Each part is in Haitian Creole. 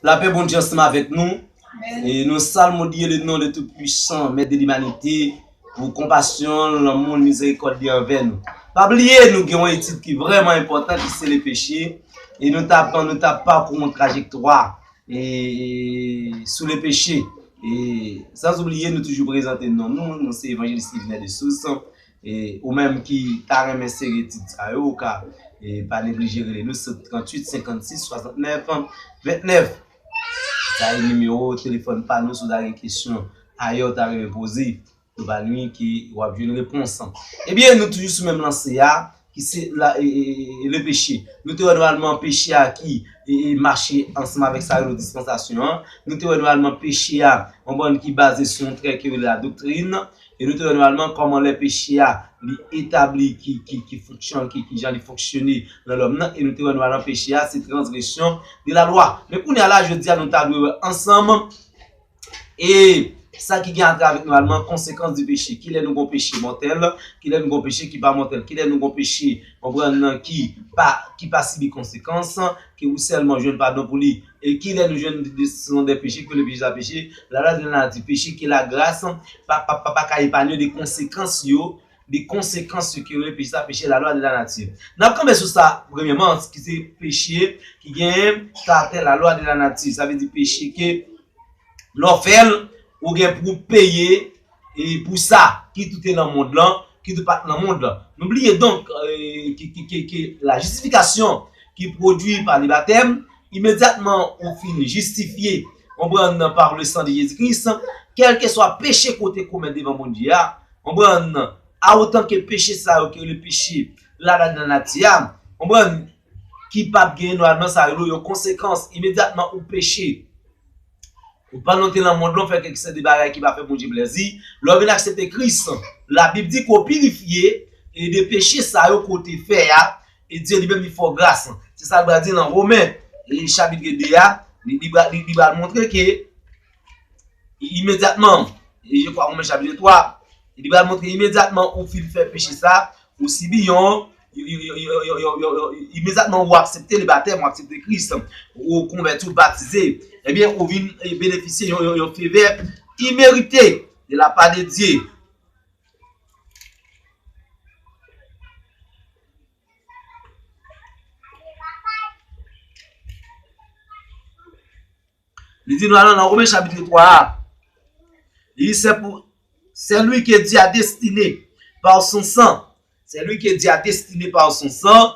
La pè Bondye ansanm avèk nou. E nou salmodye le non de tout pwisan, mèt de limanite, pou konpasyon, lanmou, mizerikòd li anvè nou. Pa bliye nou gen yon etid ki vrèman enpòtan ki se le peche, e nou ta pran, nou ta pakou yon trajektwa e sou le peche. E san oubliye nou toujou prezante non nou, nou se Evanjelis Yvenè Dessources. E ou menm ki ta renmen seri etid sa yo ou ka pa neglije rele nou sou 38 56 69 29. Sa e nimewo telefòn pa nou si w ta gen kesyon ayè ou ta renmen poze. Nou pa nwi ke wap jwenn repons. Ebyen nou toujou sou menm lanse a. ki se la le peche, nou te wè nòmalman peche a ki mache ansanm avèk sa yo rele dispansasyon an, nou te wè nòmalman peche a yon bann ki baze sou yon trè ki rele la doktrin, e nou te wè nòmalman kòman lè peche a li etabli ki fonksyon ki jan li fonksyone nan lòm nan, e nou te wè nòmalman peche a se transgresyon de la lwa. Men kounye a la jodi a nou ta dwe wè ansanm. E sa ki gen atè avèk nòmalman konsekans di peche. Ki lè nou gon peche mòtèl, ki lè nou gon peche ki pa mòtèl, ki lè nou gon peche, konprann nan, ki pa, ki pa sibi konsekans, ke ou sèlman jwenn padon pou li. E ki lè nou jwenn desizyon dè peche, ke le peche sa peche. La lwa di nan la di peche ke lagras pa, pa, pa, pa ka epanye de konsekans yo, de konsekans yo ki rele peche sa, peche lalwa de lanati. N ap kanpe sou sa premyeman, ki se peche ki gen karaktè lalwa de lanati. Sa vle di peche ke lè w fè l, ou gen pou w peye pou sa, kit ou te nan mond lan, kit ou pa t nan mond lan. Nou bliye donk ke lajistifikasyon ki pwodui pa lebatèm, Imedyatman ou fin jistifye, konprann, par le sang de Jezi Kris, kèlkeswa peche ke w te komèt devan Bondye a, konprann, a otan ke peche sa yo ki rele peche ladan lanati a, konprann, ki pa p genyen nòalman sa rele yon konsekans, imedyatman ou peche, ou pandan w te lan mond lan w fè kèk seri de bagay ki pa fè Bondye plèzi, lè w vin aksepte Kris, Labib di ke w pirifye de peche sa yo ke w te fè a, E Dye li menm li fò gras. Se sa l pral di nan Women chapitre 2 a, li pral montre ke imedyatman, e je kwa Women chapitre 3, li pral montre imedyatman ou fin fè peche sa, ou sibi yon, imedyatman ou aksepte le batèm, ou aksepte Kris, ou konvèti, ou batize, ebyen ou vin benefisye yon fevè imerite de la pa de Dye. Li di nou alan nan Omen chapit 3 a. Li di se pou se lwi ke di a destine pa ou son san. Se lwi ke di a destine pa ou son san.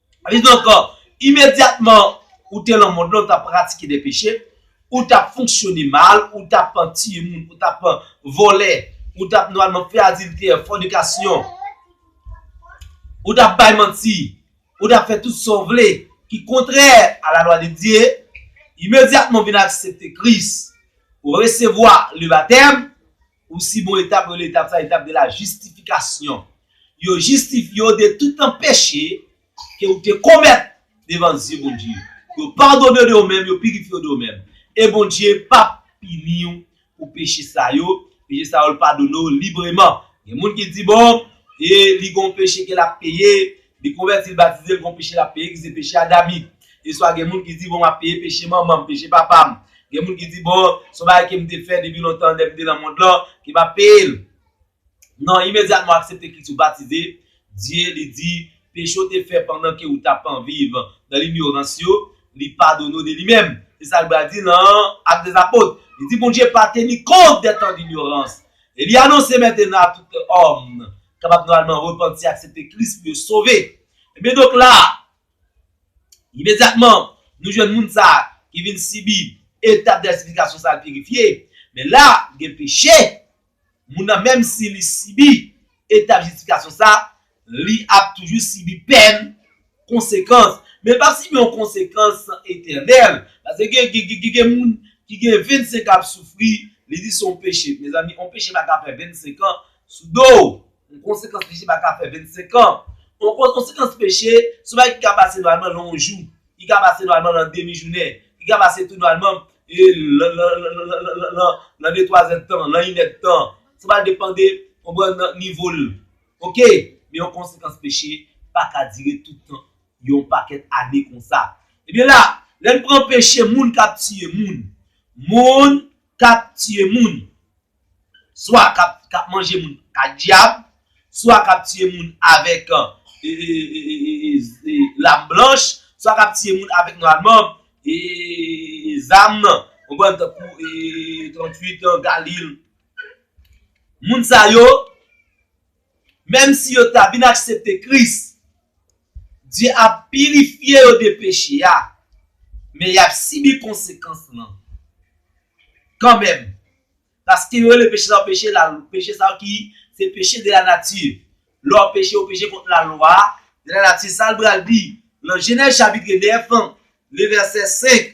Kidonk, imedyatman ou te lan mond lan, ou t ap pratike de peche, ou t ap fonksyone mal, ou t ap tiye moun, ou t ap vòlè, ou t ap nòmalman fè adiltè, fònikasyon, ou t ap bay manti, ou t ap fè tout sa w vle ki kontrè a lalwa de Dye, imedyatman ou vin aksepte Kris, ou resevwa lebatèm, Ou si bon etap rele etap sa etap de la jistifikasyon. Yo jistifye w de tout tan peche ke ou te komèt devan zye Bondye. Yo padone w de ou menm, yo pirifye w de ou menm. E Bondye pap pini w pou peche sa yo, peche sa yo l padone w libreman. Gen moun ki di bon, e li gon peche ke l ap peye, Li konvèti, l batize, l gon peche l ap peye ki se peche a Gaby. Eswa gen moun ki di bon m ap peye peche manman m, peche papa m. Gen moun ki di bon son bagay ke m te fè depi lontan lè m te nan mond lan ke m ap peye l. Non, imedyatman w aksepte Kris ou batize, Dye li di peche ou te fè pandan ke ou ta pan viv nan linyorans yo, li padone ou de li menm. Se sa l bal di nan Actes des Apôtres. Li di Bondye pa teni kont dè tan dinyorans. Eli anonse mètena a tout òm kapab nòmalman repanti, aksepte Kris pou yo sove. Ebyen donk la a, imedyatman, nou jwenn moun sa a ki vin sibi etap jastifikasyon sa a, l pirifye. Men la a, gen peche, moun nan menm si li sibi etap jistifikasyon sa a, Li ap toujou sibi pèn, konsekans. Men l pap sibi yon konsekans etènèl. Pase gen gen moun ki gen 25 an ap soufri, li di se yon peche. Mezanmi, yon peche pa ka fè 25 an sou do w. Yon konsekans peche pa ka fè 25 an. Yon konsekans peche, se yon bagay ki ka pase nòmalman nan yon jou, ki ka pase nòmalman nan demi jounen, ki ka pase tou nòmalman nan detwazèdtan, nan inèdtan. Sa pral depande, konprann, nivo l. Ok! Men yon konsekans peche pa ka dire tout tan, yon pakèt ane konsa. Ebyen la, lè n pran peche moun k ap tiye moun, moun k ap tiye moun, swa k ap manje moun k ak dyab, swa k ap tiye moun avèk lam blanch, swa k ap tiye moun avèk nwalman, e zam nan, konprann, tankou 38 an, Galil. Moun sa yo, menm si yo ta vin aksepte Kris, Dye ap pirifye yo de peche a, men y ap sibi konsekans lan kanmenm, paske yo rele peche sa yo peche lalwa, peche sa yo ki se peche de lanati. Lè w peche, ou peche kont lalwa de lanati. Sa l pral di nan Jenèz chapit 9, levèsè 5?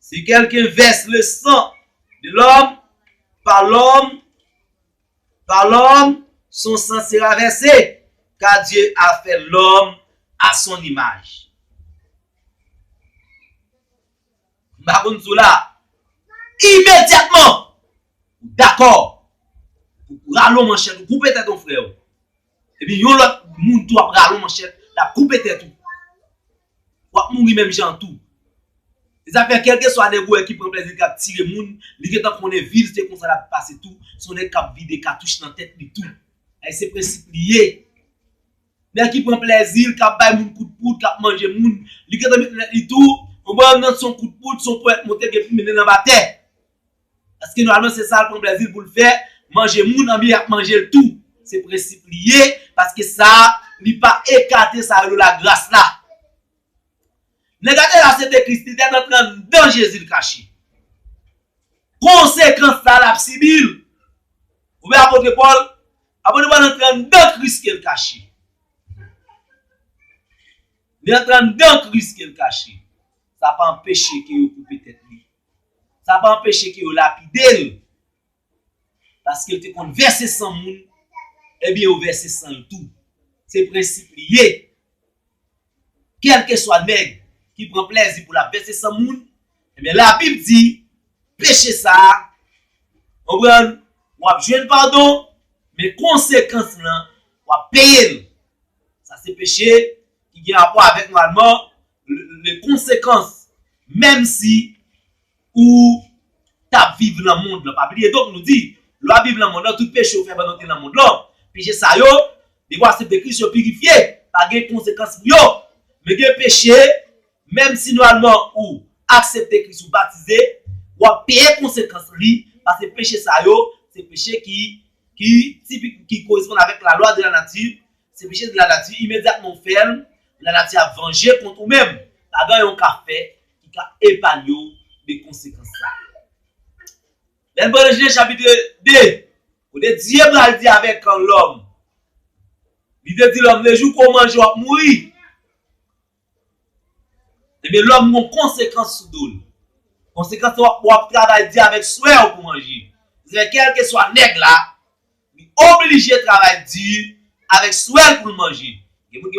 Si quelqu'un verse le sang de l'homme, pa l'homme, pa l'homme, son sang sera versé, car Dieu a fait l'homme à son image. M pa konn si w la. Imedyatman, ou dakò pou ou rale yon manchèt ou koupe tèt yon frè ou. Epi yon lòt moun tou ap rale yon manchèt, l ap koupe tèt ou. wap mouri menm jan an tou. Zafè kelkeswa nèg ou wè ki pran plèzi li kap tire moun, li gentan konnen vil se konsa lap pase tou, son nèg kap vide katouch nan tèt li tou. Ay se prensip li ye. Nèg ki pran plèzi l, kap bay moun kout poud, kap manje moun, li gentan met nan tèt li tou, bon bwa nan son kout poud, son ponyèt monte gen pou mennen l anba tè. Paske nòmalman se sal pran plèzil poul fè, manje moun anbyen ap manjel tou. Se prensip li ye, paske sa li pa ekate sa rele la gras la. Nèg la te la se te Kris, li tèt antre anndan Jezil kache. Konsekans la lap sibil. Ou wè apotre Pòl, apotre Pòl antre anndan Kris kel kache. Li antre anndan Kris kel kache. Sa pa anpeche ke yo koupe tèt li. Sa pa anpeche ke yo lapide l, paske l te konn vèse san moun, ebyen yo vèse san l tou. Se prensip li ye. Kèlkeswa nèg ki pran plèzi pou l ap vèse san moun, ebyen Labib di, peche sa a, konprann, w ap jwenn padon, men konsekans lan, w ap peye l. Sa se peche ki gen rapò avèk nòmalman Le konsekans menm si ou tap viv lan mond lan. Pa bliye donk nou di, lè wap viv lan mond lan, tout peche ou fè pandan ou te lan mond lan, peche sa yo, depi w asepte Kris yo pirifye, pa gen konsekans pou yo. Men gen peche, menm si nòmalman ou aksepte Kris, ou batize, wap peye konsekans li, paske peche sa yo, se peche ki, ki tipik, ki koresponn avèk lalwa de la nati, Se peche de lanati, imedyatman ou fè l, lanati ap vanje kont ou menm. Pa gen anyen ou ka fè ki ka epanye w de konsekans sa yo. Lè n pral nan Jenèz chapitre 2, kote Dye pral di avèk lòm, li te di lòm, lejou ke w manje w ap mouri. Ebyen lòm gon konsekans sou do l. Konsekans se w ap travay di avèk swè w pou manje. Zè kèlkeswa nèg la, li oblije travay di avèk swè l pou l manje.